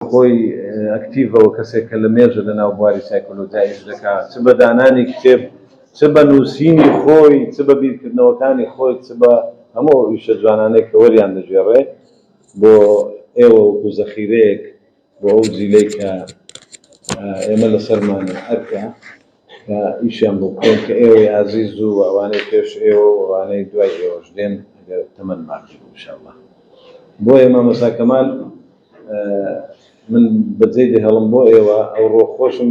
بەهۆی ئەکتیڤەوە کەسێک کە لە مێژە لە ناو بواری سایکۆلۆجیا ئیش دەکا چ بە دانانی کتێب چ بە نووسینی خۆی چ بە بیرکردنەوەکانی خۆی چ بە هەموو ئەو ئیشە جوانانەی کە وەریان دەگێڕێ بۆ ئێوە وەکوو زەخیرەیەک بۆ ئەو جیلەی کە ئێمە لە سەرمانە ئەرکە کە ئیشیان بۆ بکەین، کە ئێوەی ئازیز و ئەوانەی پێش ئێوە و ئەوانەی دوای ئێوەش دێن، ئەگەر تەمەن باقی بوو انشاءاللە. بۆیە مامۆستا کەمال من بە جێی دەهێڵم بۆ ئێوە، ئەوڕۆ خۆشم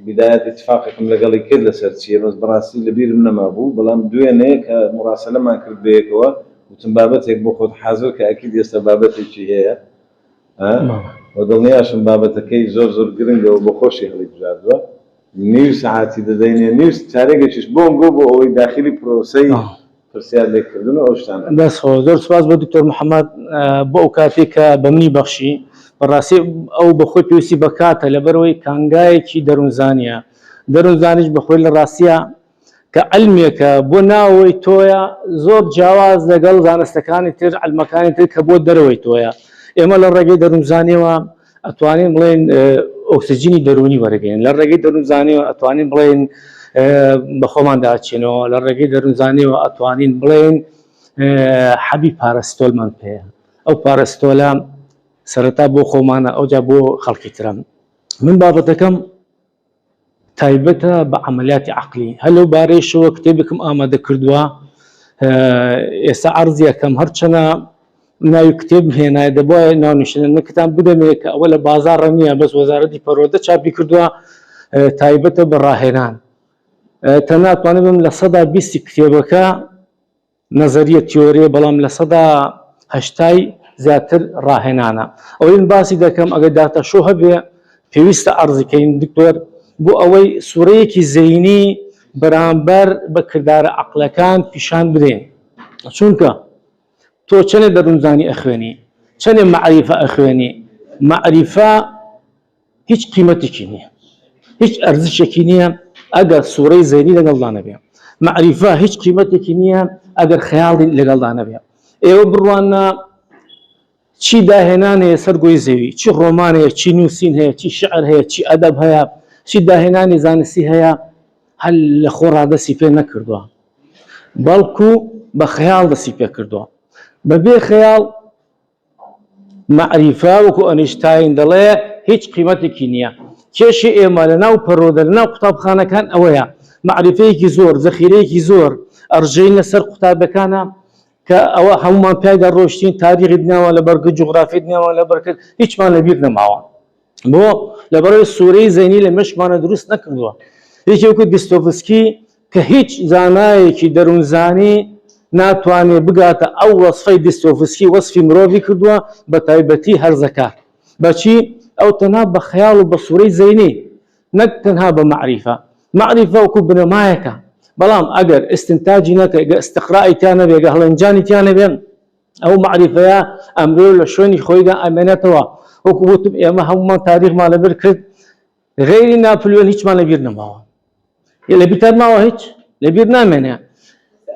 بیدایات ئیتفاقێکم لەگەڵی کرد لەسەر چییە، بەس بەڕاستی لە بیرم نەمابوو، بەڵام دوێنێ کە موڕاسەلەمان کرد بەیەکەوە، وتم بابەتێک بۆ خۆت حازر کە ئەکید ئێستا بابەتێکی هەیە، وە دڵنیاشم بابەتەکەی زۆر زۆر گرنگە و بۆخۆشی هەڵی بژاردوە نیو سەعاتی دەدەینێ نیو چارێگەکیش بۆم بۆ بۆ ئەوەی داخیلی پرۆسەی پرسیار لێ کردن و ئەو شتانە بێت. دەست خۆش زۆر سوپاس بۆ دکتۆر محمد بۆ ئەو کاتەی کە بە منی بەخشی بەڕاستی ئەو بە خۆی پێویستی بە کاتە لەبەرئەوەی کانگایەکی دەرونزانیە دەرونزانیش بە خۆی لە ڕاستیا کە عیلمێکە بۆ ناوەوەی تۆیە زۆر جیاواز لەگەڵ زانستەکانی تر عیلمەکانی تر کە بۆ دەرەوەی تۆیە ئێمە لە ڕێگەی دەروونزانیەوە ئەتوانین بڵێن ئۆکسجینی دەروونی وەرەگەین لە ڕێگەی دەروونزانیەوە ئەتوانین بڵێن بە خۆماندا چێنەوە لە ڕێگەی دەروونزانیەوە ئەتوانین بڵێن حەبی پارەستۆلمان پێ ئەو پارەستۆلە سەرەتا بۆ خۆمانە ئەوجا بۆ خەڵکی ترم من بابەتەکەم تایبەتە بە عەمەلیاتی عەقلی. هەر لەو بارەیشەوە کتێبێکم ئامادە کردووە، ئێستا عەرزی ئەکەم، هەرچەنە ناوی کتێبم هێنایە، دەبوایە ناونیشانەکەتان بدەمێ کە ئەوە لە بازاڕ نییە، بەس وەزارەتی پەروەردە چاپی کردووە، تایبەتە بە ڕاهێنان. تەنانەت توانیبم لە سەدا بیستی کتێبەکە، نەزەریە تیۆریە بەڵام لە سەدا هەشتای زیاتر ڕاهێنانە ئەوەی من باسی دەکەم ئەگەر داتە شۆ هەبێ پێویستە ئەرزیکەین دکتۆر بۆ ئەوەی سوورەیەکی زەینی بەرامبەر بە کردارە عقلەکان پیشان بدەین چونکە تۆ چەنێ دەروونزانی ئەخوێنی چەنێ مەعریفە ئەخوێنی مەعریفە هیچ قیمەتێکی نییە هیچ ئەرزشێکی نییە ئەگەر سوورەی زەینی لەگەڵدا نەبێ مەعریفە هیچ قیمەتێکی نییە ئەگەر خەیاڵی لەگەڵدا نەبێ ئێوە بڕوانە چی داهێنان هەیە سەر گۆی زەوی چی ڕۆمان هەیە چی نووسین هەیە چی شعر هەیە چی ئەدەب هەیە چی داهێنانی زانستی هەیە هەل لە خۆ ڕادەسی پێ نەکردووە بەڵکو بە خەیاڵ دەسی پێ کردووە بەبێ خەیاڵ مەعریفە وەکو ئەنیشتاین دەڵێ هیچ قیمەتێکی نییە. کێشەی ئێمە لە ناو پەرۆدە لە ناو قوتابخانەکان ئەوەیە مەعریفەیەکی زۆر، زەخیرەیەکی زۆر ئەڕژێین لە سەر قوتابەکانا کە ئەوە هەموومان پیایدا ڕۆیشتین، تاریخی دنیامان لە بەر کرد، جوغرافیای دنیامان لە بەر کرد، هیچمان لە بیر نەماوە. بۆ؟ لەبەر ئەوەی سوورەی زەینی لە مێشکمانا دروست نەکردووە. یەکێ وەکو دستۆفسکی کە هیچ زانایەکی دەروونزانی ناتوانێت بگاتە ئەو وەسفەی دیستۆڤسکی وەسفی مرۆڤی کردووە، بەتایبەتی هەرزەکار. بەچی؟ ئەو تەنها بە خەیاڵ و بە سوورەی زەینی، نەک تەنها بە مەعریفە. مەعریفە وەکو بنەمایەکە، بەڵام ئەگەر ئیستنتاجی نەکەی، گەر ئیستقرای تیا نەبێ، گەر هەڵێنجانی تیا نەبێ، ئەو مەعریفەیە ئەمرۆ لە شوێنی خۆیدا ئەمێنێتەوە. وەکو وتم ئێمە هەموومان تاریخمان لەبر کرد. غەیری ناپلیۆن هیچمان لەبیر نەماوە یە لەبیرتان ماوە هیچ لەبیر نامێنێ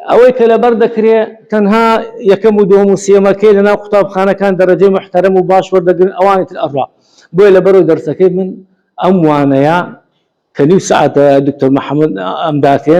ئەوەی کە لەبەر دەکرێ تەنها یەکەم و دۆم و سێمەکەی لەناو قوتابخانەکان دەرەجەی محتەرم و باش وەردەگرن ئەوانی تر ئەڕا بۆیە لە بەرەو دەرسەکەی من ئەم وانەیە کە نیو سعاتە دکتۆر محەممەد ئەمداتێ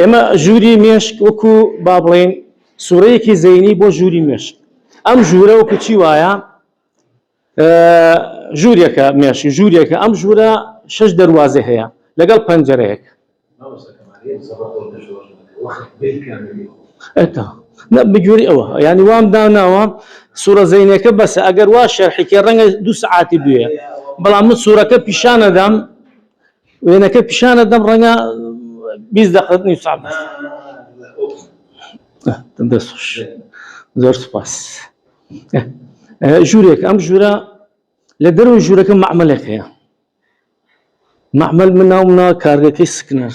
ئێمە ژووری مێشک وەکو با بڵێین سوورەیەکی زەینی بۆ ژووری مێشک ئەم ژوورە وەکو چی وایە ژوورێکە مێشی ژوورێکە ئەم ژوورە شش دەواازێ هەیە لەگەڵ پەنجەرەیەک بگوێری ئەوە ینی وام داناوە سوورە زینەکە بەسە ئەگەر وا شەرحیکە ڕەنگە دو سعاتی بوێ بەڵام من سوورەکە پیشانەدەم وێنەکە پیشانت دەم ڕەنگە بیست دەقەت نیو سەعات بێت. دەست خۆش. زۆر سوپاس. ژوورێک ئەم ژوورە لە دەروی ژوورەکە مەعمەلێک هەیە. مەعمەل من ناومنا کارگەکەی سکنەر.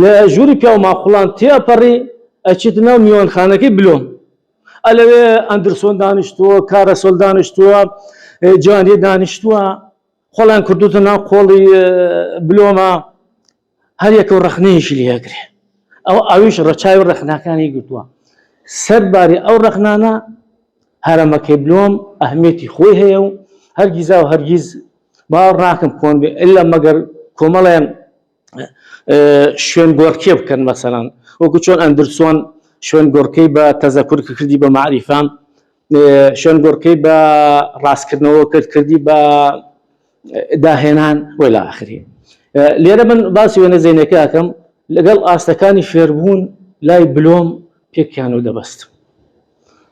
لە ژووری پیاو ماقوڵان تێئەپەڕی ئەچێتە ناو میوانخانەکەی بلۆم ئەلەوێ ئەندرسۆن دانیشتووە کارەسۆل دانیشتووە جوانیە دانیشتووە خۆڵیان کردوتە ناو قۆڵی بلۆمە هەریەکە و ڕەخنەیەکی لێگرێ ئەو ئەویش ڕەچاوی ڕەخناکانی گرتووە سەر باری ئەو ڕەخنانە هەرەمەکەی بلۆم ئەهمێتی خۆی هەیە و هەرگیزا و هەرگیز باوەڕ ناکەم کۆن بێ ئللا مەگەر کۆمەڵێن شوێن گۆڕکێ بکەن مەسەران وەکو چۆن ئەندرسۆن شوێن گۆڕکەی بە تەزەکور کردی بە معریفان شوێن گۆڕکەی بە ڕاستکردنەوە کرد کردی بە داهێنان وی لە ئاخری لێرە من باسی وێنە زینەکەکەم لەگەڵ ئاستەکانی فێربوون لای بلۆم پێکیان و دەبەستم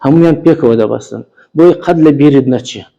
هەمویان پێکەوە دەبەستن بۆی قەت لە بیرت نەچێت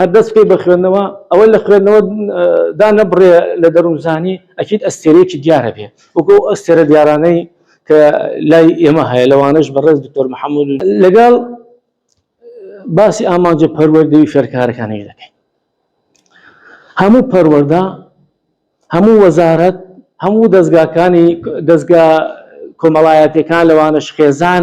هەر دەست بکەی بە خوێندنەوە ئەوە لە خوێندنەوە دانەبڕێ لە دەروونزانی ئەکید ئەستێرەیەکی دیارە بێ وەکو ئەو ئەستێرە دیارانەی کە لای ئێمە هەیە لەوانەش بەڕێز دکتۆر محەممەد و لەگەڵ باسی ئامانجە پەروەردەی فێرکارەکانی دەکەین هەموو پەروەەردە هەموو وەزارەت هەموو دەستگاکانی دەستگا کۆمەڵایەتەکان لەوانەش خێزان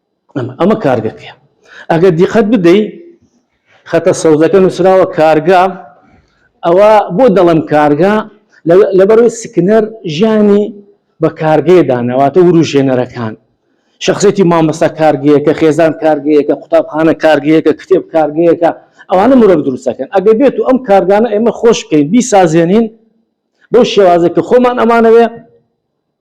ئەمە کارگەکەیە ئەگەر دیقەت بدەی خەتە سەوزەکە نووسراوە کارگا ئەوە بۆ دەڵم کارگا لەبەرەوەی سکنەر ژیانی بە کارگەیەدانەواتە وروژێنەرەکان شخصێتی مامەستا کارگەیەکە خێزان کارگەیەکە قوتابخانە کارگەیەکە کتێب کارگەیەکە ئەوانە مرۆڤ دروستەکەن ئەگەر بێت و ئەم کارگانە ئێمە خۆشکەین بیسازێنین بۆ شێوازێک کە خۆمان ئەمانەوێ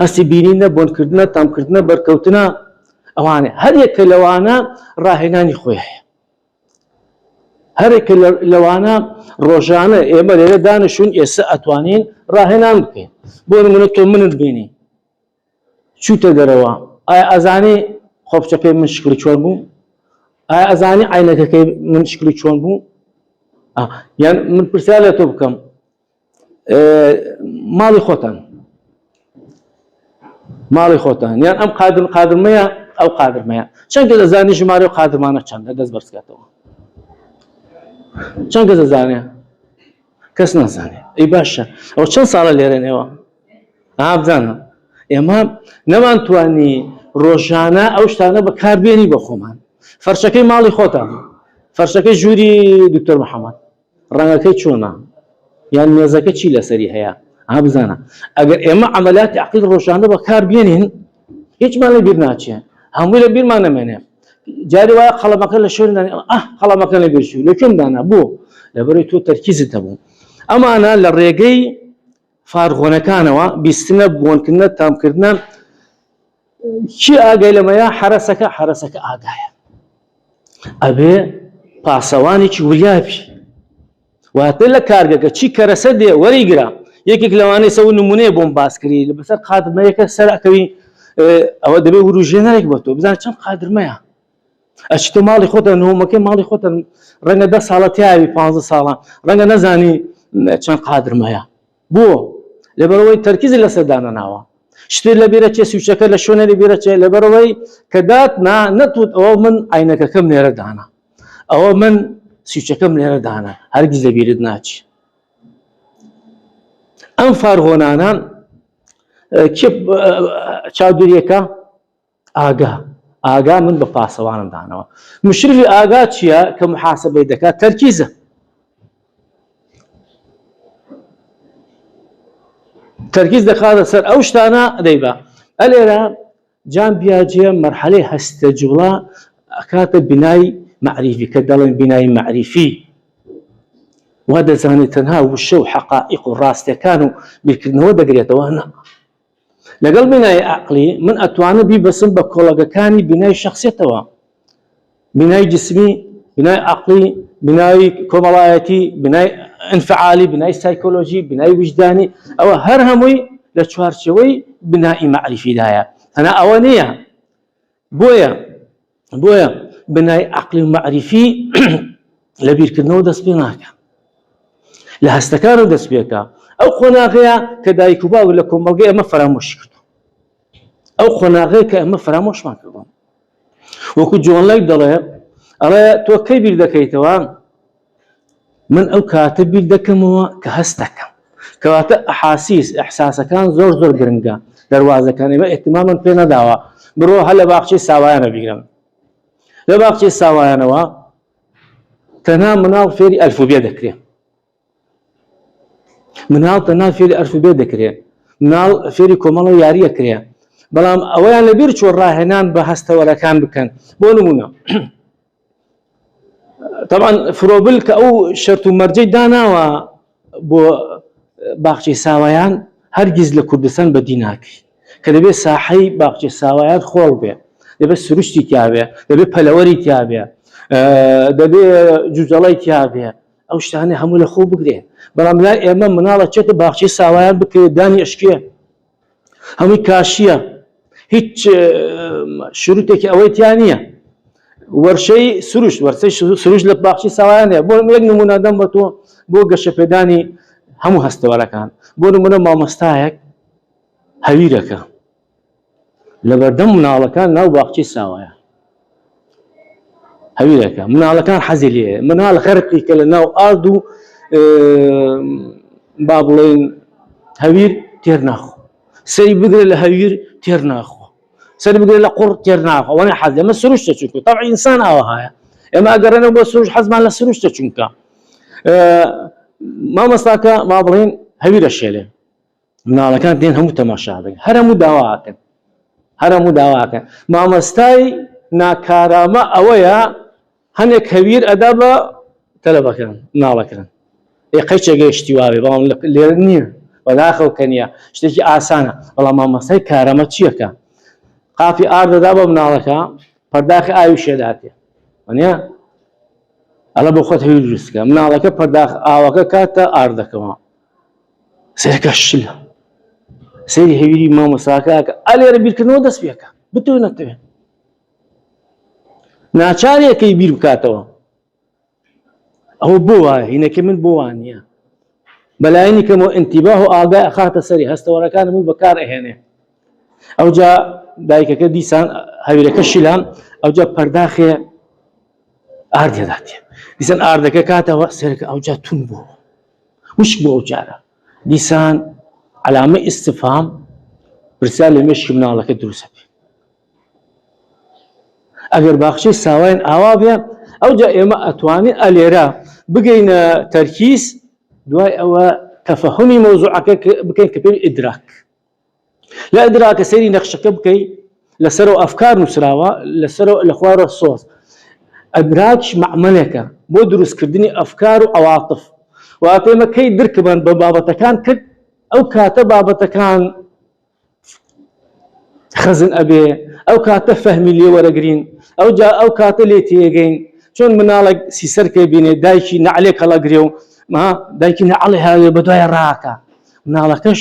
هەستی بینینە، بۆنکردنە، تامکردنە، بەرکەوتنە، ئەوانە هەر یەکە لەوانە ڕاهێنانی خۆی هەیە. هەرێکە لەوانە ڕۆژانە ئێمە لێرە دانیشون ئێستا ئەتوانین ڕاهێنان بکەین بۆ نمونە تۆ منت بینی چوتە دەرەوە ئایا ئەزانی خۆپچەکەی من شکلی چۆن بوو ئایا ئەزانی عینەکەکەی من شکلی چۆن بوو یان من پرسیار لە تۆ بکەم ماڵی خۆتان ماڵی خۆتان یان ئەم قادر قادرمەیە ئەو قادرمەیە چەند گە دەزانی ژمارە و قادرمانە چەند لە دەست بەرزکاتەوە چەند گە دەزانێ کەس نازانێ ئەی باشە ئەو چەند ساڵە لێرەنەوە ئابزانە ئێمە نەمان توانی ڕۆژانە ئەو شتانە بەکاربیێنی بە خۆمان فەرشەکەی ماڵی خۆتان فەرشەکەی ژووری دکتۆر محەممەد ڕەنگەکەی چۆنە یان مێزەکە چی لەسەری هەیە ئا بزانە ئەگەر ئێمە عەمەلاتی عەقید ڕۆژانە بەکار بێنین هیچمان لە بیر ناچێ هەمووی لە بیرمان نەمێنێ جاری وایە قەڵەمەکە لە شوێن ئە قەڵەمەکە لە بێشوو لە کوێن دانا بۆ لەبەری تۆ تەرکیزت دەبوو ئەمانە لە ڕێگەی فارغۆنەکانەوە بیستنە بۆنکردە تامکردە کێ ئاگای لەمەیە حەرەسەکە حەرەسەکە ئاگایە ئەبێ پاسەوانێکی وریابی واتە لە کارگەکە چی کەرەسە دێ وەریگرا یەکێک لەوانەی سەو نمونەیە بۆم باسکری لە بەسەر قادمەیەەکە سەرکەوی ئەوە دەبێ وروژێنەرێک بە تۆ بزان چەند قادرمەیە ئەچ تۆ ماڵی خۆتە نهۆمەکەی ماڵی خۆتە ڕەنگە دە ساڵە تیاوی پ ساڵە ڕەنگە نەزانی چەند قادرمەیە بۆ؟ لەبەرئەوەی تەرکیزی لەسەر دانەناوە. شتێ لەبیرە چێ سویچەکە لە شوێنێ لەبیرە چێ لەبەرئەوەی کە داتنا نەتوت ئەوە من ئاینەکەکەم لێرە دانا ئەوە من سویچەکەم لێرە دانا هەرگیز لەبیرت ناچی ئەم فارهۆنانان چاودێریەکە ئاگا ئاگا من بە پاسەوانم دانەوە مشرفی ئاگا چییە کە محاسبەی دەکات تەرکیزە تەرکیز دەخاتە سەر ئەو شتانە دەیبا ئەلێرە جان بیاجێ مەرحەلەی هەستە جوڵا ئەکاتە بینای معریفی کە دەڵێن بینای معریفی وا دەزانێت تەنها وشە و حقائق و ڕاستەکان و بیرکردنەوە دەگرێتەوە نە لەگەڵ بینای ئەقلی من ئەتوانم بیبەسم بە کۆڵەگەکانی بینای شخصێتەوە بینای جسمی بینای ئەقلی بینای کۆمەڵایەتی بینای انفعالی بینای سایکۆلۆژی بینای وجدانی ئەوە هەر هەمووی لە چوارچەوەی بینایی معریفیدایە هەنا ئەوە نییە بۆیە بۆیە بنای عقلی و معریفی لە بیرکردنەوە دەست پێ ناکە لە هەستەکانە دەست پێکە ئەو قۆناغەیە کە دایک و باو لە کۆمەڵگە ئەمە فەرامۆشی کردو ئەو قۆناغەیە کە ئەمە فەرامۆشمان کردوم وەکو جۆنلای دەڵێ ئەڵێ تۆ کەی بیر دەکەیتەوە من ئەو کاتە بیر دەکەمەوە کە هەست دەکەم. کەواتە ئەحاسیس، ئیحساسەکان زۆر زۆر گرنگە. دەروازەکان ئێمە ئیهتیماممان پێ نەداوە. بڕۆ هەر لە باخچەی ساوایانە بیگرە. لە باخچەی ساوایانەوە تەنها مناڵ فێری ئەلفوبێ دەکرێ. مناڵ تەنها فێری ئەلفوبێ دەکرێ. مناڵ فێری کۆمەڵە یاریە کرێ. بەڵام ئەوەیان لەبیر چۆ ڕاهێنان بە هەستەوەرەکان بکەن. بۆ نمونە تەبعەن فرۆبل کە ئەو شەرت و مەرجەی داناوە بۆ باخچەی ساوایان هەرگیز لە کوردستان بەدی ناکەی کە دەبێت ساحەی باخچەی ساوایان خۆڵ بێ دەبێت سروشتی تیاوێ دەبێت پەلەوەری تیاوێ دەبێ جوجەڵی تیاوێ ئەو شتانە هەموو لە خۆ بگرێ بەڵام لای ئێمە مناڵە چێتە باخچەی ساوایان بکرێت دانی ئەشکێ هەمووی کاشیە هیچ شروتێکی ئەوەی تیا نییە وەرشەی سروش وەرسەی سروش لە باخچی ساوایانە بۆ یەک نمونادەم بە تۆ بۆ گەشەپێدانی هەموو هەستەوەرەکان بۆ نمونە مامۆستایەک هەویرەکە لەبەردەم مناڵەکان ناو باخچی ساوایە هەویرەکە مناڵەکان حەزی لێ مناڵ غەرقی کە لە ناو ئارد و با بڵێن هەویر تێر ناخۆ سەری بگرە لە هەویر تێر ناخۆ سەر بگرە لە قوڕ تێر ناخۆ وەە حەز لەمە سروشتە چونکە تا ئینسان ئاوەهایە ئێمە ئەگەڕێنە بۆ سروش حەزمان لە سروشتە چونکە مامەستاکە ما بڵێن هەویرە شێلێ مناڵەکان دێن هەموو تەماشا دەکەن هەر هەموو داوا ئەکەن هەر هەموو داوا ئەکەن مامۆستای ناکارامە ئەوەیە هەنێک هەویر ئەدا بە تەلەبەکان مناڵەکان ئێ قەیچێک گەیشتی واوێ بەڵام لێر نییە بەداخەو کە نیە شتێکی ئاسانە بەڵام مامۆستای کارەمە چیەکە قاپی ئار دەدا بە مناڵەکە پەرداخی ئاوی شێداتێ وەنە ئەلە بۆ خۆت هەوی دروستکە مناڵەکە پەرداخ ئاوەکە کاتە ئاردەکەەوە سەرەکە شلە سەیری هەویری مامۆساکەکە ئەلێرە بیرکردنەوە دەست پێکە بتو نەتوێ ناچارەکەی بیر بکاتەوە ئەوە بۆ وایە هینەکە من بۆ وانە بەلایەنی کەمەوە ئەتیباه و ئاگای ئەخاتە سەری هەستەوەەکان من بەکار ئەهێنێ ئەوجا دایکەکە دیسان هەویرەکە شیلان ئەوجا پەرداخێ ئاردێداتێ دیسان ئاردەکە کاتەوە سەرکە ئەوجا تون بوو وشک بوو ئەو جارە دیسان علامە ئیستفام پرسیار لە مێشکی مناڵەکە دروستە بێ ئەگەر باخچەی ساواین ئاوا بێ ئەو جا ئێمە ئەتوانین ئەلێرە بگەینە تەرکیز دوای ئەوە تەفەهمی مەوزوعەکە بکەین کە پێ ئیدراک لە ئەدرا کە سەیری نەخشەکە بکەی لە سەرۆ ئەفکار نووسراوە لە سەرۆ لە خوارۆ سۆز ئەدراکش مەعمەلێکە بۆ دروستکردنی ئەفکار و عواطف و ئەپێمە کەی درکمان بە بابەتەکان کرد ئەو کاتە بابەتەکان خەزن ئەبێ ئەو کاتە فەهمی لێ وەرەگرین ئەو جا ئەو کاتە لێ تێگەین چۆن مناڵێک سیسەر پێ بینێ دایکی نعلێک هەڵەگرێ و ما دایکی نعڵێ هاوێ بە دوای ڕاکە مناڵەکەش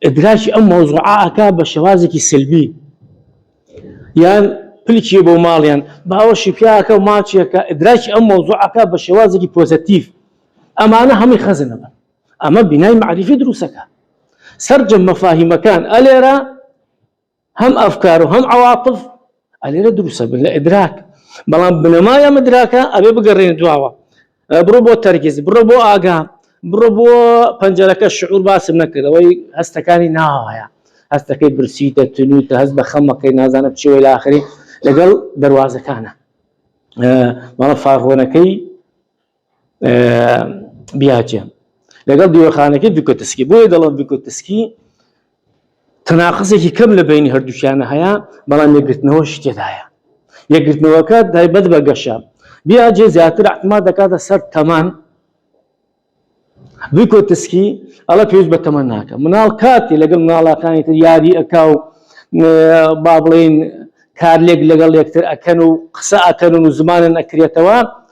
ئیدراکی ئەم مەوزوعە ئەکا بە شێوازێکی سلبی یان پلکی بۆ ماڵیان باوەشی پیاکە و ماچێکە ئیدراکی ئەم مەوزوعەکە بە شێوازێکی پۆزەتیف ئەمانە هەمووی خەزنە بن ئەمە بینای معریفی دروستەکە سەرجەم مەفاهیمەکان ئەلێرە هەم ئەفکار و هەم عەواطف ئەلێرە دروست ئەبن لە ئیدراک بەڵام بنەمای ئەم ئیدراکە ئەبێ بگەڕێنە دواوە بڕۆ بۆ تەرکیز بڕۆ بۆ ئاگا بڕۆ بۆ پەنجەرەکە شعور باسم نەکردەوەی هەستەکانی ناوایە هەستەکەی برسی دەتنوتە هەست بە خەمەکەی نازانە چێ لاخری لەگەڵ دەواازەکانە ماڵە فاغۆنەکەی بیاچێ لەگەڵ دیوەخانەکەی دوکەتسکی بۆیە دەڵم دوکەتسکی تەناقزێکی کەم لە بینی هەردووچیانە هەیە بەڵام لەگرتنەوە شتێدایە یەکگرتنەوەکە دایبەت بە گەشە بیاجێ زیاتر ئەحما دەکاتە سەر تەمان دوکەتسکی ئەڵە پێویست بە تەمە ناکە مناڵ کاتی لەگەڵ مناڵەکانی تر یاری ئەکا و با بڵین کارلێک لەگەڵ یەکتر ئەکەن و قسە ئەکەن و زمانن ئەکرێتەوە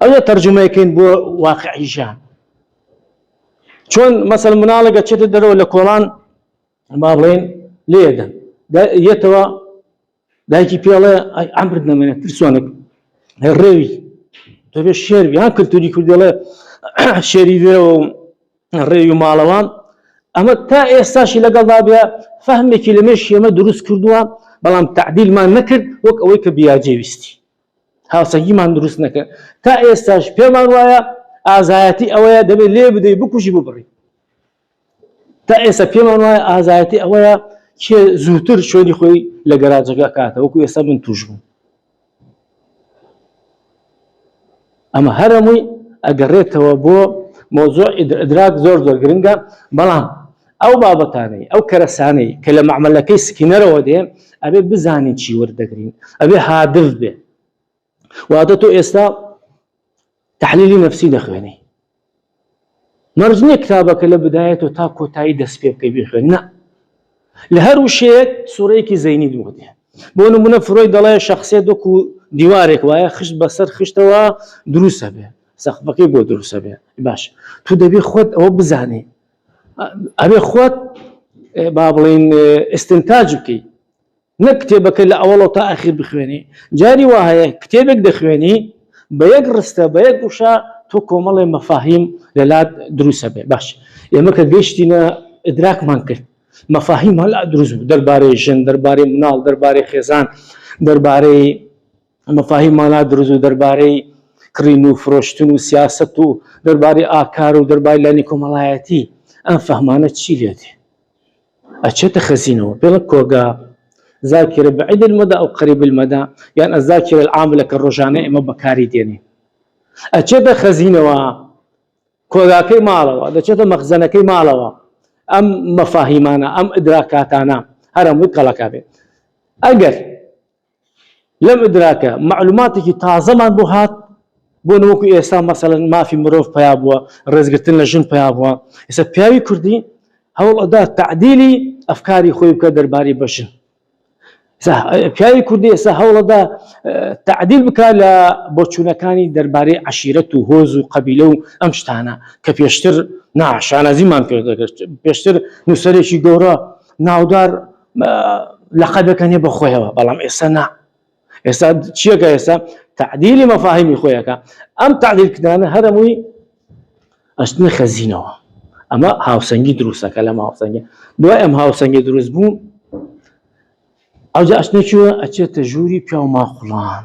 ئەوێ تەرجومەی کەین بۆ واقعی ژیان چۆن مەسەل مناڵێکە چێتە دەرەوە لە کۆڵان با بڵێن لێدەن یەتەوە دایکی پێڵێ ئەمرت نەمێنە ترسۆنێک ڕێوی دەبێ شێر یان کللتوری کوردڵێ شێری وێەوە ڕێوی و ماڵەوان ئەمە تا ئێستاشی لەگەڵدا بێ فەهمێکی لەمێش ئێمە دروست کردووە بەڵام تعدیلمان نەکرد وەک ئەوەی کە بیاجێویستی هاوسەنگیمان دروست نەکرد تا ئێستاش پێمان وایە ئازایەتی ئەوەیە دەبێت لێ بدەی بکوژی ببڕی تا ئێستا پێمان وایە ئازایەتی ئەوەیە کێ زووتر شوێنی خۆی لە گەراجەکە کاتە وەکو ئێستا من توش بوو ئەمە هەرەمووی ئەگەڕێتەوە بۆ مەوزوع ئیدراک زۆر زۆر گرنگە بەڵام ئەو بابەتانەی ئەو کەرەسانەی کە لە مەعمەلەکەی سکینەرەوە دێ ئەبێ بزانین چی وەردەگرین ئەبێ هادف بێ واتە تۆ ئێستا تحلیلی نفسی دەخوێنی مەرج نییە کتابەکە لە بدایەتەوە تا کۆتایی دەست پێ بکەی بیخوێنی نا لە هەر وشەیەک سوورەیەکی زەینی دووەتێ بۆ نمونە فرۆی دەڵێ شخصێت وەکو دیوارێک وایە خشت بەسەر خشتەوە دروسە بێ سەخفەکەی بۆ دروسە بێ باش تو دەبێ خۆت ئەوە بزانێ ئەبێ خۆت با بڵین ئستنتاج بکەیت نەک کتێبەکە لە ئەوەڵەوە تا ئەخیر بخوێنی جاری وا هەیە کتێبێک دەخوێنی بە یەک ڕستە بە یەک وشە تۆ کۆمەڵێ مەفاهیم لەلات دروسە بێ باش ئێمە کە گەشتینە ئدراکمان کرد مەفاهیم هەلا دروست بوو دەربارەی ژن دەربارەی مناڵ دەربارەی خێزان دەربارەی مەفاهیم مالا دروست و دەربارەی کڕین و فرۆشتن و سیاست و دەربارەی ئاکار و دەربای لانی کۆمەڵایەتی ئەم فەهمانە چی لێتێ ئەچێتە خەزینەوە بڵێ کۆگا زاکیرە بەعید المەدا ئەو قەریب المەدا یان ئەزاکیرە العاملە کە ڕۆژانە ئێمە بەکاری دێنی ئەچێتە خەزینەوە کۆگاکەی ماڵەوە دەچێتە مەخزەنەکەی ماڵەوە ئەم مەفاهیمانە ئەم ئدراکاتانە هەرەمووی کەڵەکە بێت ئەگەر لەم ئدراکە مەعلوماتێکی تازەمان بۆ هات بۆ نەوەکو ئێستا مەسەلەن مافی مرۆڤ پیا بووە ڕێزگرتن لە ژن پیا بووە ئێستا پیاوی کوردی هەوڵ ئەدا تعدیلی ئەفکاری خۆی بکە دەرباری بەژن پیاوی کوردی ئێستا هەوڵەدا تعدیل بکە لە بۆچوونەکانی دەربارەی عشیرەت و هۆز و قەبیلە و ئەم شتانە کە پێشتر ناشانازیمان پێ دەگەشت پێشتر نووسەرێکی گەورە ناودار لەقەبێکە نیە بەخۆیەوە بەڵام ئێستا نا ئێستا چیەکە ئێستا تعدیلی مەفاهیمی خۆیەکە ئەم تعدیلکردانە هەرمووی ئەشتنە خەزینەوە ئەمە هاوسەنگی دروستەکە لەم هاوسەنگە دوای ئەم هاوسەنگی دروست بوو ئەوجا ئەشتە چوە ئەچێتە ژووری پیاو ماقلان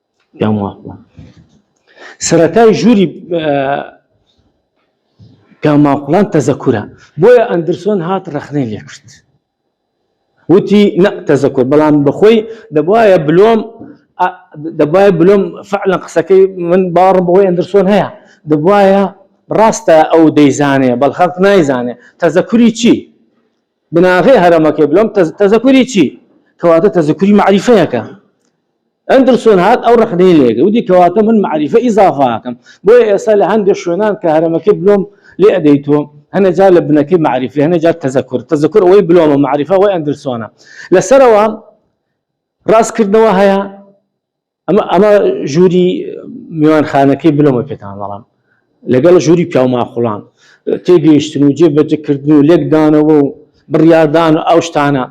سەرەتای ژووری پیاماقوڵان تەزەکورە، بۆیە ئەندرسۆن هات ڕەخنەی لێ کرد. وتی نە تەزەکور، بەڵام بە خۆی دەبوایە بلۆم دەبوایە بلۆم فعلا قسەکەی من باوەڕم بەوەی ئەندرسۆن هەیە، دەبوایە ڕاستە ئەو دەیزانێ بەڵ خەڵک نایزانێ تەزەکوری چی؟ بناغەی هەرەمەکەی بلۆم تەزەکوری چی؟ کەواتە تەزەکوری مەعریفەیەکە. ئەندرسۆن هات ئەو ڕەخنەی لێگرت وتی کەواتە من مەعریفە ئیزافە ئەکەم بۆیە ئێستا لە هەندێک شوێنان کە هەرەمەکەی بلۆم لێ ئەدەیتۆ هەنە جار لە بنەکەی مەعریفی هەنە جار تەزەکور تەزەکور ئەوەی بلۆمە مەعریفە ئەوەی ئەندرسۆنە لەسەرەوە ڕاستکردنەوە هەیە ئەمە ئەمە ژووری میوانخانەکەی بلۆمە پێتان بەڵام لەگەڵ ژووری پیاوماقوڵان تێگەیشتن و جێ بەجێ کردن و لێکدانەوە و بڕیاردان و ئەو شتانە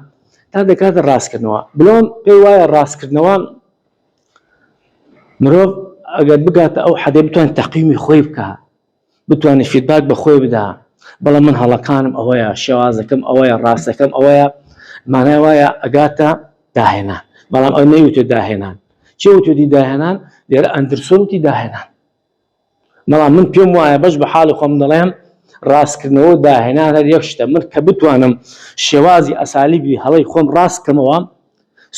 تا دەکاتە ڕاستکردنەوە بلۆم پێی وایە ڕاستکردنەوە مرۆڤ ئەگەر بگاتە ئەو حەدێ بتوان تەقیمی خۆی بکە بتوانێت فیدباک بە خۆی بدا بەڵام من هەڵەکانم ئەوەیە شێوازەکەم ئەوەیە ڕاستەکەم ئەوەیە مانای وایە ئەگاتە داهێنان بەڵام ئەو نەیوتێ داهێنان چێوتێتی داهێنان لێرە ئەندرسۆتی داهێنان بەڵام من پێم وایە بەش بە حاڵی خۆم دەڵێم ڕاستکردنەوە و داهێنان هەر یەک شتە، من کە بتوانم شێوازی ئەسالیبی هەڵەی خۆم ڕاست بکەمەوە،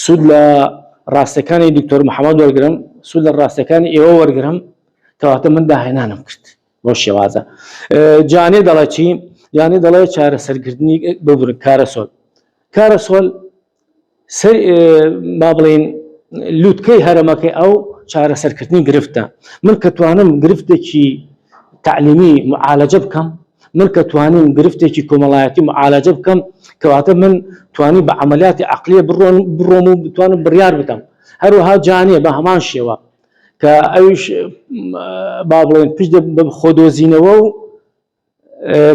سوود لە ڕاستیەکانی دکتۆر محەمەد وەرگرم، سوود لە ڕاستیەکانی ئێوە وەرگرم، کەواتە من داهێنانم کرد بەو شێوازە. جانێ دەڵێ چی؟ جانێ دەڵێ چارەسەرکردنی ببورن کارەسۆل. کارەسۆل سەر با بڵێین لوتکەی هەرەمەکەی ئەو چارەسەرکردنی گرفتە من کە توانم گرفتێکی تعلیمی معالەجە بکەم من کە توانیم گرفتێکی کۆمەڵایەتی معالەجە بکەم کەواتە من توانی بە عملیاتی عقلیە بڕۆن بڕۆم و بتوانم بڕیار بدەم هەروەها جانێ بە هەمان شێوە کە ئەوش با بڵێن پشت بە خۆدۆزینەوە و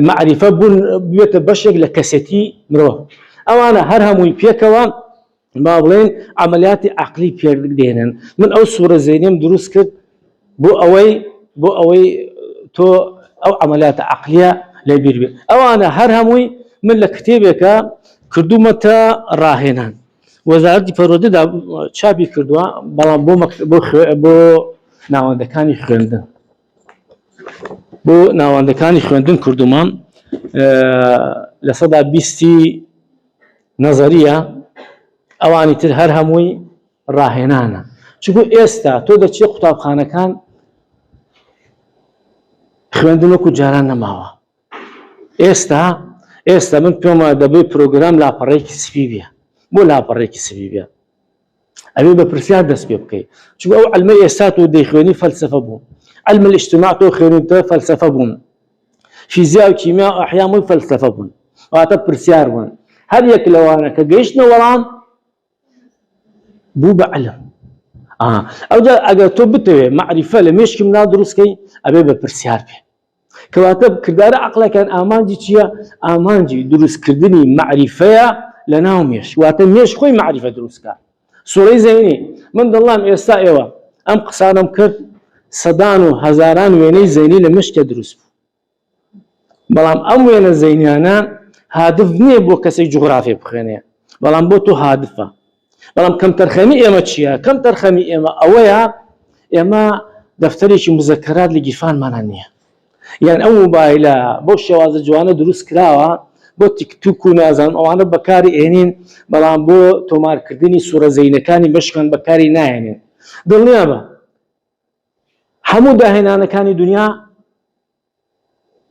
مەعریفە بوون بێتە بەشێک لە کەسێتی مرۆڤ ئەوانە هەر هەمووی پێکەوە با بڵێن ئەعملیاتی عقلی پێدێنن من ئەو سوورە زەینم دروست کرد بۆ ئەوەی بۆ ئەوەی تۆ ئەو ئەعملیاتە عقلیە لە بیر بێت ئەوانە هەر هەمووی من لە کتێبێکە کردوومەتە ڕاهێنان وەزارتی پەرۆدەدا چاپی کردووە بەڵام بۆ بۆ ناوەندەکانی خوێندن بۆ ناوەندەکانی خوێندن کردوومە لە سەدا بیستی نەزەریە ئەوانی تر هەر هەمووی ڕاهێنانە چکو ئێستا تۆ دەچی قوتابخانەکان خوێندن وەکو جاران نەماوە ئێستا ئێستا من پێما دەبێت پرۆگرام لاپەڕێکی سپی بێ بۆ لاپەڕێکی سپی بێ ئەبێ بە پرسیار دەست پێ بکەیت چون ئەو علمە ئێستا تۆ دەیخوێنی فەلسفە بوو علم الاجتماع تۆ خوێنیتە فەلسفە بوون فیزیا و کیمیا و ئەحیامووی فەلسفە بوون واتە پرسیار بوون هەر یەک لەوانە کە گەیشتنە وەڵام بوو بە علم ئەوجا ئەگەر تۆ بتەوێت معریفە لە مێشکی مناڵ دروستکەی ئەبێ بە پرسیار بێ کەواتە کردارە عەقڵەکان ئامانجی چییە؟ ئامانجی دروستکردنی مەعریفەیە لە ناو مێش واتە مێش خۆی مەعریفە دروستکە سوڕی زەینی من دەڵام ئێستا ئێوە ئەم قسانم کرد سەدان و هەزاران وێنەی زەینی لە مشتە دروست بوو بەڵام ئەم وێنە زەینیانە هادف نییە بۆ کەسی جوغرافی بخوێنێ بەڵام بۆ تۆ هادفە بەڵام کەمتەرخەمی ئێمە چییە؟ کەمتەرخەمی ئێمە ئەوەیە ئێمە دەفتەرێکی مزەکەرات لە گیرفانمانە نییە یان ئەو موبایلە بۆ شێوازە جوانە دروست کراوە بۆ تیکتوک و نازان ئەوانە بەکاری ئێنین بەڵام بۆ تۆمارکردنی سوورە زەینەکانی بەشکان بەکاری نایێنێن دڵنیابە هەموو داهێنانەکانی دنیا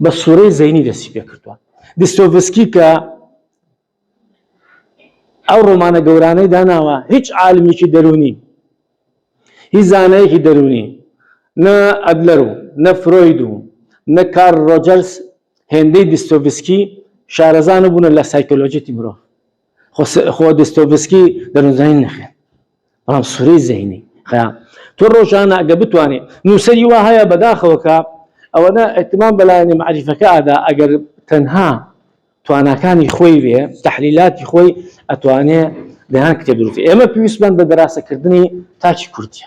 بە سووڕی زەینی دەستی پێ کردووە. دستۆڤسکی کە ئەو ڕۆمانە گەورانەی داناوە، هیچ عالمێکی دەروونی، هیچ زانایەکی دەروونی، نە ئەدلەر و نە فرۆید و نە کارل ڕۆجەرس هێندەی دستۆڤسکی شارەزا نەبوونە لە سایکۆلۆژیی مرۆڤ. خۆ دستۆڤسکی دەرونزانی نەخێن بەڵام سورەی زەینی خەیان تۆ ڕۆژانە ئەگە بتوانێت نووسری وا هەیە بەداخەوەکە ئەوەنە ئەتمان بەلایەنی معریفەکە ئادا ئەگەر تەنها تواناکانی خۆی وێ تحلیلاتی خۆی ئەتوانێ دەیان کتێب دروست ئێمە پێویستمان بە دەراسەکردنی تاکی کوردیە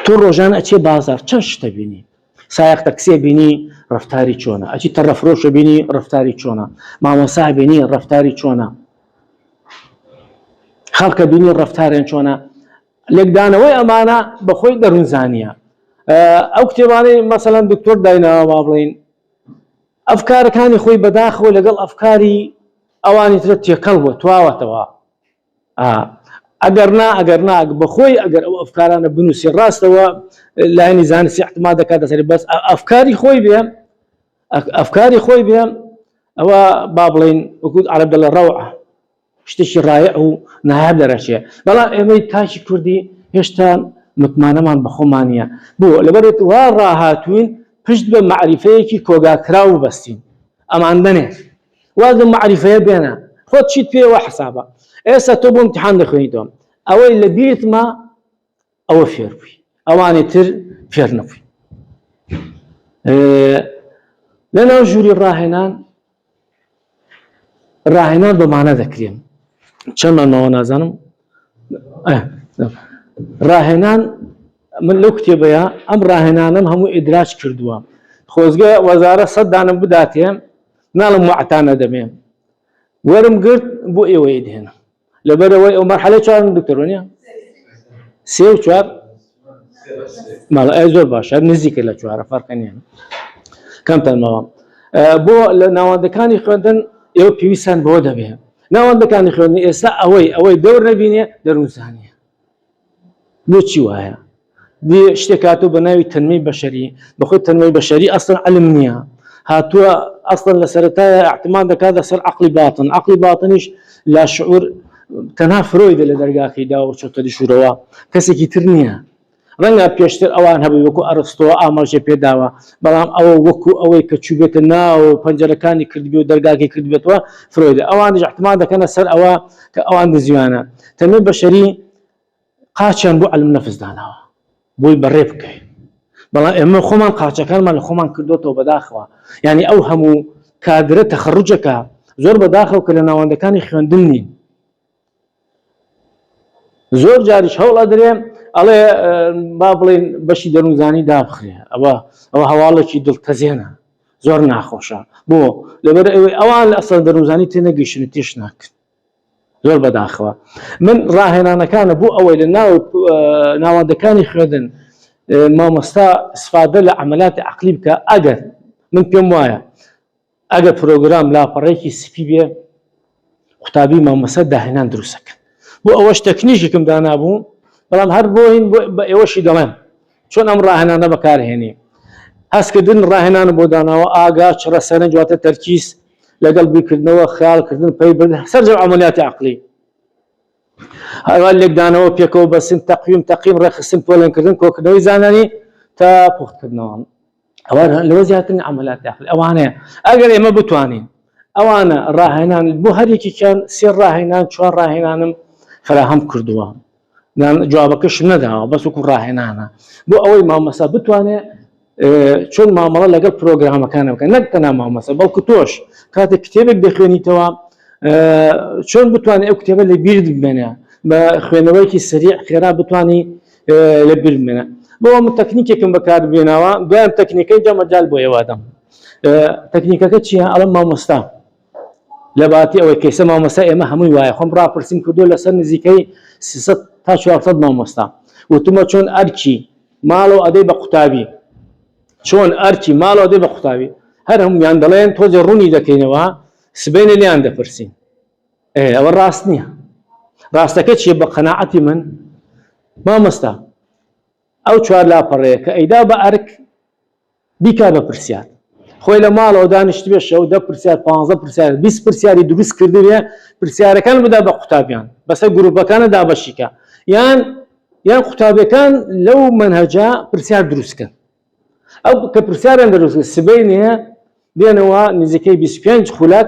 تۆ ڕۆژانە ئەچێ بازار چەند شتە بینی سایق تەکسێ بینی ڕفتاری چۆنە ئەچی تە ڕەفرۆشە بینی ڕفتاری چۆنە مامۆسا بینی ڕفتاری چۆنە خەڵکە بینی ڕفتارێن چۆنە لێکدانەوەی ئەمانە بەخۆی دەروونزانە ئەو کتێبانەی مەسەلەن دکتۆر دایناوا بڵین ئەفکارەکانی خۆی بەداخەوە لەگەڵ ئەفکاری ئەوانی ترە تێکەڵ بووە تواوەتەوە ئا ئەگەر نا ئەگەر نا بە خۆی ئەگەر ئەو ئەفکارانە بنووسی ڕاستە و لایەنی زانستی احتما دەکاتە سەری بەس ئەفکاری خۆی بێ ئەفکاری خۆی بێ ئەوە با بڵین وەکووت عرب دەڵە ڕەوە شتێکی ڕایە ئەو نایاب دەرەچێ بەڵام ئێمەی تاکی کوردی هێشتا متمانەمان بەخۆمانە بۆ لەبەرێت وا ڕاهاتوین پشت بە معریفەیەکی کۆگاکراو بەستین ئەمان دەنێت واز لەم مەعریفەیە بێنە خۆت چیت پێ وا حسابە ئێستا تۆ بۆ امتحان دەخوێنیتەوە ئەوەی لە بیرتمە ئەوە فێر بووی ئەوانی تر فێر نەبووی لەناو ژووری ڕاهێنان ڕاهێنان بەمانە دەکرێن چەندمان ماوە نازانم ڕاهێنان من لەو کتێبەیە ئەم ڕاهێنانم هەموو ئیدراج کردووە خۆزگە وەزارە سەدانم بداتێ ناڵم وەعتان ئەدەمێ وەرم گرت بۆ ئێوەی دێنە لەبەرەوەی ئەو مەرحەلە چوارم دکتۆرۆنیە سێ و چوار ماڵ ئەی زۆر باشە نزیکە لە چوارە فەرقەنیان کەمتان ماوە بۆ لە ناوەندەکانی خوێندن ئێوە پێویستان بۆ دەبێ ناوەندەکانی خوێندنی ئێستا ئەوەی ئەوەی دەور نەبینێ دەروزانە بۆچی وایە دی شتێک هاتوو بە ناوی تەنمەی بەشەری بەخۆی تەنمەی بەشەری ئەسن علم نییە هاتووە ئەسڵن لە سەرەتایە احتمان دەکات لەسەر عقلی باتن عقلی باتنیش لا شعور تەنها فرۆیدە لە دەرگاکەی دا و چۆتە دیشورەوە کەسێکی تر نییە ڕەنگە پێشتر ئەوان هەبوو وەکو ئەرستۆ ئاماژێ پێداوە بەڵام ئەوە وەکو ئەوەی کە چوبێتە ناو پەنجەرەکانی کردبێ و دەرگاکی کردبێتەوە فرۆیدە ئەوانیش احتمان دەکەنە سەر ئەوە کە ئەوان دزیوانە تەمێ بەشەری قاچیان بۆ علم نەفس داناوە بۆی بەڕێ بکەین بەڵام ئێمە خۆمان قاچەکانمان لە خۆمان کردوەوە بەداخەوە یعنی ئەو هەموو کادرە تەخڕجەکە زۆر بەداخەوە کە لە ناوەندەکانی خوێندن نین زۆر جاریش هەوڵە درێ ئەڵێ با بڵین بەشی دەروونزانی دابخرێ ئەوە ئەوە هەواڵێکی دڵتەزێنە زۆر ناخۆشە بۆ لەبەر ئەوەی ئەوان لە ئەسەر دەروزانی تێنەگەیشتن تێش ناکرد زۆر بەداخەوە من ڕاهێنانەکانە بۆ ئەوەی لە ناو ناوادەکانی خوێندن مامۆستا سفادە لە ئەمەلاتی عقلی بکە ئەگەر من پێم وایە ئەگەر پرۆگرام لاپەڕێکی سپی بێ قوتابی مامۆستا داهێنان دروستەکەن بۆ ئەوەش تەکنیژێکم دانابوو بەڵام هەر بۆین بە ئێوەشی دەڵێن چۆن ئەم ڕاهێنانە بەکارهێنی هەستکردن ڕاهێنان بۆ داناوە ئاگا چڕە سەرنج واتە تەرکیز لەگەڵ بیکردنەوە خیالکردن پەی بن سەرجە عملیاتی عقلی هەوا لێکدانەوە پێکەوە بەسن تەقویم تەقیم ڕێخستن پۆلێنکردن کۆکردنەوەی زانانی تا پوختکردنەوە ئەوە لەوە زیاتر عملات داخل ئەوانەیە ئەگەر ئێمە بتوانین ئەوانە ڕاهێنان بۆ هەرێکیان سێ ڕاهێنان چوار ڕاهێنانم فراهەم کردووە جوابەکەش نەداوە بەس وکو ڕاهێنانە بۆ ئەوەی مامەسا بتوانێت چۆن مامەڵە لەگەڵ پرۆگرامەکانە بکە نەک تەنا مامەسە بەڵکو تۆش کاتێک کتێبێک دەخوێنیتەوە چۆن بتوانێت ئەو کتێبە لە بیرت بمێنە بە خوێنەوەیکی سریع خێرا بتانی لە بیر بمێنە بۆ من تەکنیکێکم بەکار بێناوە دوایان تەکنیکەی جا مەجال بۆ ئێوادەم تەکنیکەکە چییە ئەڵم مامۆستا لە باتی ئەوەی کەسە مامۆستا ئێمە هەمووی وایە خۆم ڕاپرسیم کردو لەسەر نزیکەی تا 400 مامۆستا وتمە چۆن ئەرکی ماڵەوە ئەدەی بە قوتابی چۆن ئەرکی ماڵەوە دەی بە قوتابی هەر هەمویان دەڵێن تۆزێ ڕوونی دەکەینەوە سبینە لیان دەپرسین ئێ ئەوە ڕاست نییە ڕاستەکە چیە بە قەنەعەتی من مامۆستا ئەو چوار لاپەڕەیە کە ئەیدا بە ئەرک بیکا بە پرسیار خۆی لە ماڵەوە دانیشت بێ شەو دە پرسیار پ پرسیار بیست پرسیاری دروست کردبێ پرسیارەکان بدا بە قوتابیان بەسەر گروپەکانە دابەشیکە یان یان قوتابەکان لەو منهجە پرسیار دروستکەن ئەو کە پرسیاران دەروست سبەی نیە دێنەوە نزیکەی 25 خولەک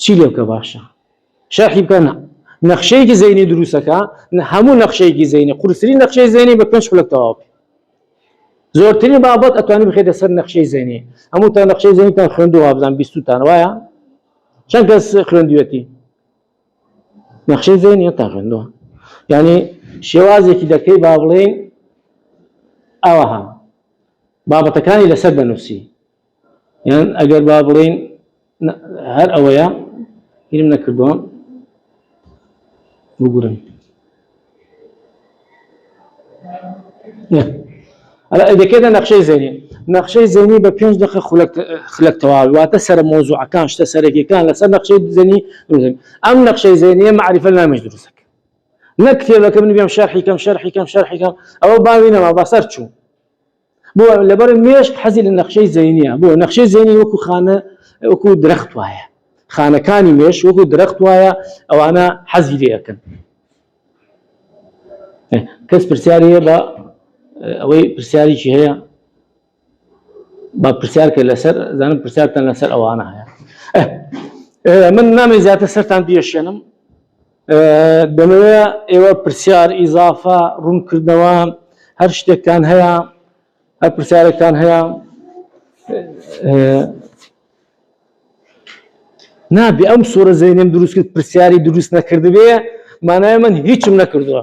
چی لێ بکە باشە شەرحی بکە نا نەخشەیەکی زەینی دروستەکە هەموو نەخشەیەکی زەینی قورسری نەخشەی زەینی بە پێنج خولەک تەواو بکە زۆرترین بابەت ئەتوانی بخێتە سەر نەخشەی زەینی هەموو تا نەخشەی زەینتان خوێندوە بزان بیستتان وایە چەند کەس خوێندوێتی نەخشەی زەینی تا خوێندوە ینی شێوازێکی دەکەی با بڵێین ئەوەها بابەتەکانی لەسەر بەنووسی یان ئەگەر با بڵێین هەر ئەوەیە هیرم نەکردووە بگورن ئەلا ئەدەکێتە نەخشەی زێنی نەخشەی زێنی بە پێنج دەخە خلک تەواوی واتە سەر مۆزوعەکان شتە سەرەکیەکان لەسەر نەخشەی زێنی ئەم نەخشەی زێنیە معریفە نامێش دروستەکە نەک کتێبەکە من بێم شەرحیکەم شەرحیکەم شەرحیکەم ئەوە باوی نەما بەسەر چوو بۆ لەبەر مێشک حەزی لە نەخشەی زەینە بۆ نەخشەی زەینی وەکو خانە وەکو درەخت وایە خانەکانی مێش وەکو درەخت وایە ئەوانە حەزی لەکەن کەس پرسیاری هەیە بە ئەوەی پرسیاریی هەیە با پرسیارکە لەسەر زانم پرسیارتان لەسەر ئەوانە هەیە من نامی زیاتر سەران دیێشێنم دەمەوێ ئێوە پرسیار ئیزافە ڕوونکردنەوە هەر شتێکتان هەیە هەر پرسیارێکتان هەیە نابێ ئەم سوورە زەینم دروست کرد پرسیاری دروست نەکردبێ مانای من هیچم نەکردووە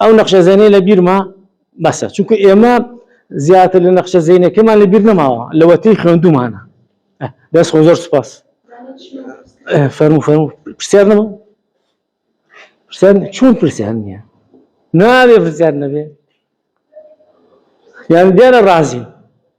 ئەو نەخشە زەینەی لە بیرمە بەسە چونکە ئێمە زیاتر لە نەخشە زەینەکەمان لە بیر نەماوە لەوەتەی خوێندومانە دەست خۆ زۆر سپاس فەرمو فەرمو پرسیار نەما پرسیار چۆن پرسیار نییە ناوێ پرسیار نەبێ یان دیارە ڕازی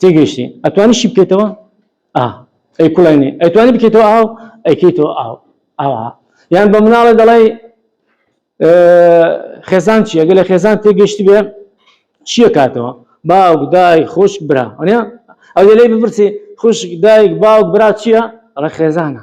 تێگەیشتی ئەتوانی شی بکەیتەوە ئا ئەی کوڵێنی ئەتوانی بکەیتەوە ئاو ئەیکەیتەوە ئاو ئاوا یان بە مناڵە دەڵی خێزان چیە گەلە خێزان تێگەشتی بێ چیە کاتەوە باوک دای خۆشک برا ئەنە ئەو لەی بپرسی خوشک دایک باوک برا چییە ڕە خێزانە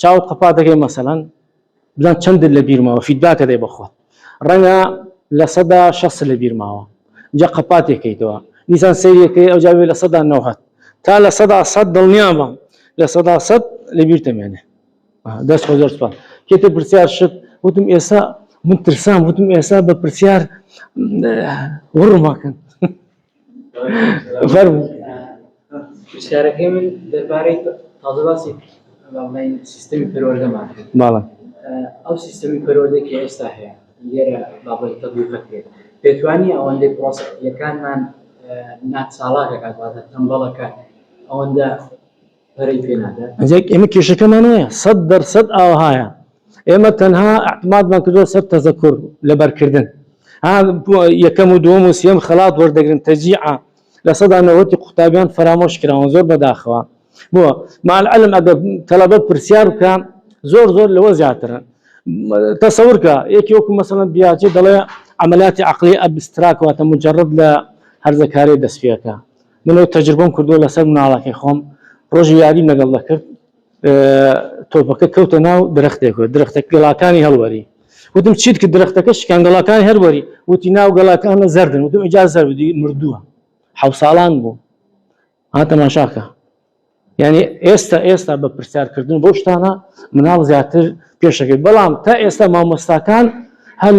چاوت قەپات دەکەی مەسەلەن بزان چەندت لە بیرماوە فیدباکە دەی بەخۆت ڕەنگە لە سەدا شەست لە بیرماوە جا قەپاتێکەکەیتەوە دیسان سەیرەکەی ئەو جاوێ لە سەدا نەوهت تا لە سەدا سەد دڵنیا بم لە سەدا سەد لە بیر تەمێنێ دەست خۆ زۆر سپاس کێتە پرسیار شت وتم ئێستا من ترسام وتم ئێستا بە پرسیار وڕماکەن فەرموو. پرسیارەکەی من دەربارەی تازە باسی بەڵێن سیستمی پەروەردەمان کرد. بەڵێ. ئەو سیستمی پەروەردەی کە ئێستا هەیە لێرە بابەت تەبیق کرێت پێتوانی ئەوەندەی پڕۆسەکانمان ناچاڵاکەکات واتە تەمبەڵەکات ئەوەندە جێک ئێمە کێشەکەمان هەیە سەد دەرسەد ئاوهایە ئێمە تەنها ئەحتمادمان کردو سەر تەزەکر لەبەرکردن یەکەم و دووەم و سێم خەڵات وەردەگرن تەجیعە لە سەدا نەوەتی قوتابیان فەرامۆش کراون زۆر بەداخەوە بۆ مالعلم ئەگە تەلەبە پرسیار بکە زۆر زۆر لەوە زیاترن تەسەورکە یەکی وەکو مەسەن بیاجێ دەڵێ عملیاتی عقلی ئەبستراکەوە تە مجرڕد لە هەرزەکاری دەستپێەکە من ئەو تەجربەم کردووە لەسەر مناڵەکەی خۆم ڕۆژی یاریم لەگەڵ دەکرد تۆپەکە کەوتە ناو درختێک و درختە گەڵاکانی هەڵوەری وتم چیت کە درختەکە شکان گەڵاکانی هەروەری وتی ناو گەڵاکانە زەردن وتم ئجا زەر بدی مردووە حە ساڵان بوو هاتەماشاکە یعنی ئێستا ئێستا بە پرسیارکردن بۆ شتانە مناڵ زیاتر پێشەکەی بەڵام تا ئێستا مامۆستاکان هەل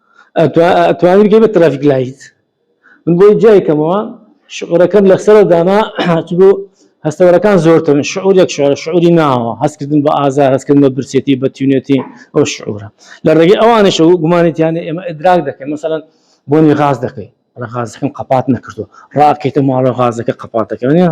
ئەتوانی بگەی بە ترافیک لایت من بۆی جای کەمەوە شعورەکەم لە سەرەوە دانا هاتبوو هەستەوەرەکان زۆرترن شعورێک شعر شعوری ناوە هەستکردن بە ئازار هەستکردن بە برسێتی بە تیونێتی ئەو شعورە لە ڕێگەی ئەوانش و گومانێتیانە ئێمە ئەدراک دەکەن مەسەەن بۆنی غاز دەکەی لە غازەکەم قەپات نەکردو ڕاکەیتە ماڵە غازەکە قەپاتەکەنیە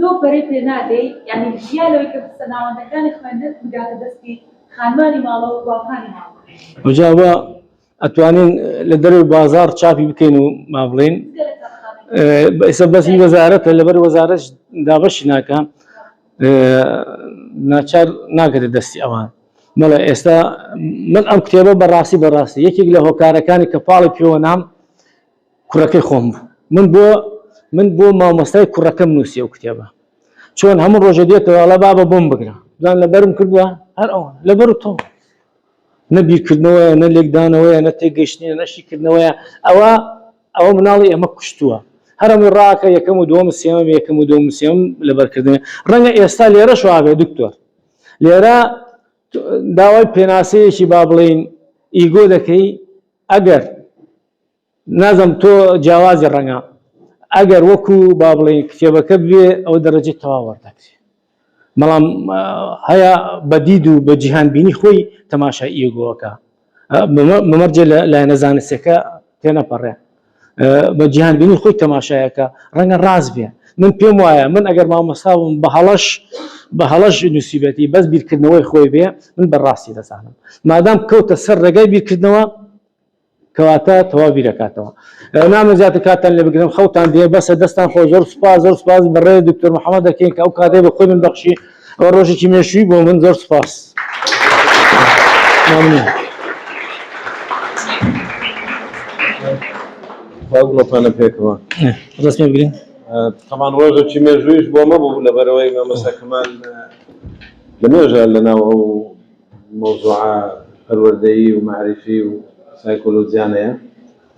نۆ پەرەی پێ نادەی یانی جیا لەوەی کە پرسە ناوەندەکانی خوێندن بگاتە دەستی خانمانی ماڵە و باوکانی ماڵ. ئەوجا ئەوە ئەتوانین لە دەرەوەی بازاڕ چاپی بکەین و مابڵێین ئێستا بەس هی وەزارەتە لەبەر وەزارەش دابەشی ناکە ناچار ناگەێت دەستی ئەوان مەڵە ئێستا من ئەم کتێبە بەڕاستی بەڕاستی یەکێک لە هۆکارەکانی کە پاڵی پێوە نام کوڕەکەی خۆم بوو من بۆ من بۆ مامۆستای کوڕەکەم نووسی ئەو کتێبە چۆن هەموو ڕۆژە دێتەوە ئەڵە بابە بۆم بگرە دوان لەبەرم کردووە هەر ئەو لەبەر و تۆ نەبیرکردنەوەیە نە لێکدانەوەیە نە تێگەشتنیە نەشیکردنەوەیە ئەوە ئەوە مناڵی ئەمە کوشتووە هەرمی ڕاکە یەکەم و دوم سێمە یەکەم و دوم سێم لەبەرکردن ڕەنگە ئێستا لێرە شوابێ دکتۆر لێرە داوای پێناسەیەکی با بڵین ئیگۆ دەکەی ئەگەر نازم تۆ جیاوازی ڕەنگە ئەگەر وەکو با بڵێین کتێبەکە بێ ئەو دەرەجەی تەواو وەردەگرێ بەڵام هەیە بە دید و بە جیهان بینی خۆی تەماشای ئیگۆەکە مەمەرجێ لە لایەنە زانستەکە تێ نەپەڕێ بە جیهان بینی خۆی تەماشایەکە ڕەنگە ڕاست بێ من پێم وایە من ئەگەر مامۆستاوم بە هەڵەش بە هەڵەش نووسیبەتی بەس بیرکردنەوەی خۆی بێ من بەڕاستی دەزانم مادام کەوتە سەر ڕێگای بیرکردنەوە کەواتە تەواو بیرەکاتەوە نامە زیاتر کاتان لێ بگرم خەوتان دێ بەسە دەستان خۆ زۆر سپاس زۆر سپاس بەڕێ دکتۆر محەممەد دەکەین کە ئەو کاتێ بە خۆی من بەخشی ئەوە ڕۆژێکی مێشوی بۆ من زۆر سپاس باگڵۆپانە پێکەوە ڕستێ بگرین تەمان ڕۆژێکی مێژویش بۆ مەبوو لەبەرەوەی مەمەسەکەمان لە مێژە لەناو ئەو مەوزوعە پەروەردەیی و مەعریفی و سایکۆلۆجیانەیە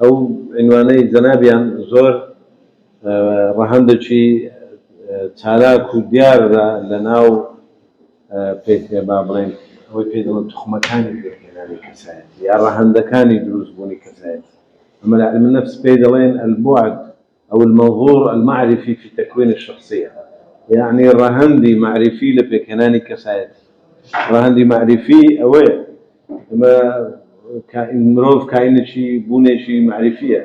ئەو عینوانەی جەنابیان زۆر ڕەهەندەکی چالاک و دیارە لە ناو پێکێ با بڵێن ئەوەی پێ دەڵێن توخمەکانی پێکهێنانی کەسایەتی یا ڕەهەندەکانی دروستبوونی کەسایەتی ئەمە لە علم النفس پێی دەڵێن البعد ئەو المنظور المعرفی فی تکوین الشخصیە یەعنی ڕەهەندی مەعریفی لە پێکهێنانی کەسایەتی ڕەهەندی مەعریفی ئەوەیە ئەمە مرۆڤ کاینێکی بوونێکی مەعریفیە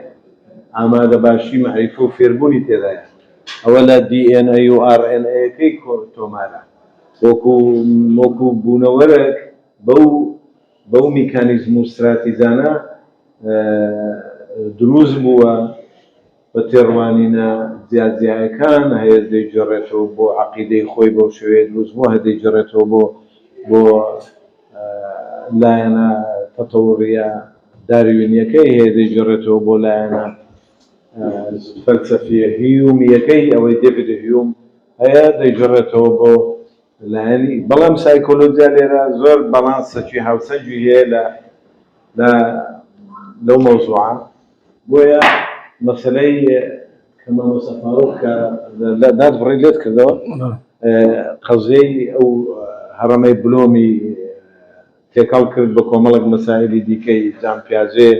ئامادە باشی مەعریفە و فێربوونی تێدایە ئەوە لە DNA و RNA-ەکەی تۆمارە وەکو وەکو بوونەوەرەک بەو بەو میکانیزم و ستراتیجانە دروست بووە، بە تێڕوانینە جیا جیایەکان هەیەس دەیگێڕێتەوە بۆ عەقیدەی خۆی، بەو شێوەیە دروست بووە، هە دەیگێڕێتەوە بۆ بۆ لایەنە تەتەوڕییە داروینیەکەی، هەیە دەیگێڕێتەوە بۆ لایەنە فەلسەفییە هیومییەکەی، ئەوەی دێڤید هیوم هەیە دەیگێڕێتەوە بۆ لایەنی بەڵام سایکۆلۆجیا لێرە زۆر باڵانسەکی هاوسەنگی هەیە لە لە لەو مەوزوعە بۆیە مەسەلەی کە مامۆستا فاروق کە لە داد بڕی لێت کردەوە قەزیەی ئەو هەڕەمەی بلۆمی تێکەڵ کرد بە کۆمەڵێک مەسائلی دیکەی جام پیاجێ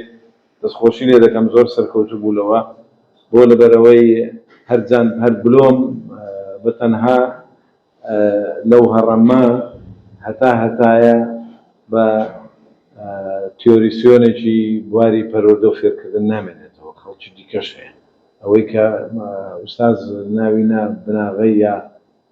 دەستخۆشی لێ دەکەم زۆر سەرکەوتو بوو لەوە بۆ لەبەرئەوەی هەر جان هەر بلۆم بە تەنها لەو هەڕە مە هەتا هەتایە بە تیۆریسیۆنێکی بواری پەروەردەو فێرکردن نامێنێتەوە خەڵکی دیکەش هەیە ئەوەی کە ئوستاز ناوی نا بناغەی یا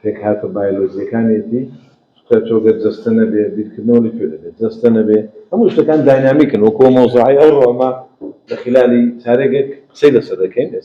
پێکهاتە بایۆلۆجییەکانیەتی، چونکە تۆ گەر جەستە نەبێ بیرکردنەوە لە کوێ دەبێ؟ جەستە نەبێ هەموو شتەکان داینامیکن وەکوو ئەو مەوزوعەی ئەوڕۆ ئەمە لە خیلالی چارێگێک قسەی لەسەر دەکەین ئێستا.